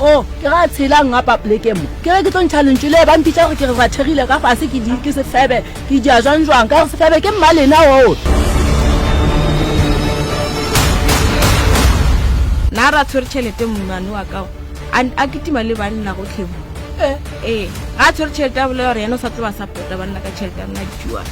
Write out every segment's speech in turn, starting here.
o oh, ke ga tshelang nga papleke mo ke re ke tlo ntšha lentšu le ba mpitša gore ke re rathegile ka fase ke di ke sefebe ke dia jwang jwang ka gore sefebe ke mmalena oo nna ra tshwere tšhelete mmane wa kao a ketima le banna go tlhemo ee eh, eh, ga tshwere tšhelete a bolela gore yena o sa tseba sa pota banna ka tšhelete a nna dijuang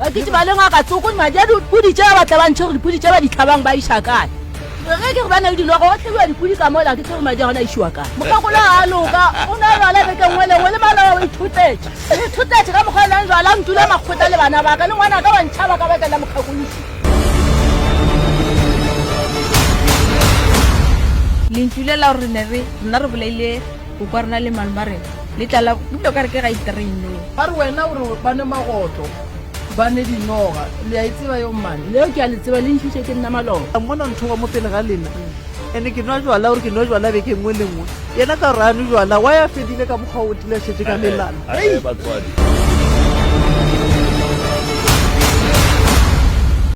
bakiti ba lengwa ka tsoko madi a dipudi tše ba batla ba ntšhe gore dipudi tše ba ditlhabang ba iša kae ge ke re ba na le dilogo go tlhebiwa dipudi ka mola ke tsere madi a gona a išiwa kae mokgakolo ga a loka o ne lwala beke nngwe lengwe le maloa o ithutetse ithutetse ka mokgwa e leng jwala ntula makgotla le bana baka le ngwana ka wa ntšhaba ka bakela mokgakolosi lentsu le la gore ne re nna re bolaile O kwa rena le malome a rena le tlala ebile o ka re ke ga itereineng. A re wena o re ba nwe magotlo ba nwe dinoga le a e tseba yo mmane. Leo ke a le tseba le ntšhitše ke nna maloba. La mmona ntho ba mo pele ga lena ene ke nwa jwala o re ke nwe jwala beke nngwe le nngwe yena ka gore a nwe jwala wa ya fedile ka mokgwa o tile a šetše ka melana. Hei!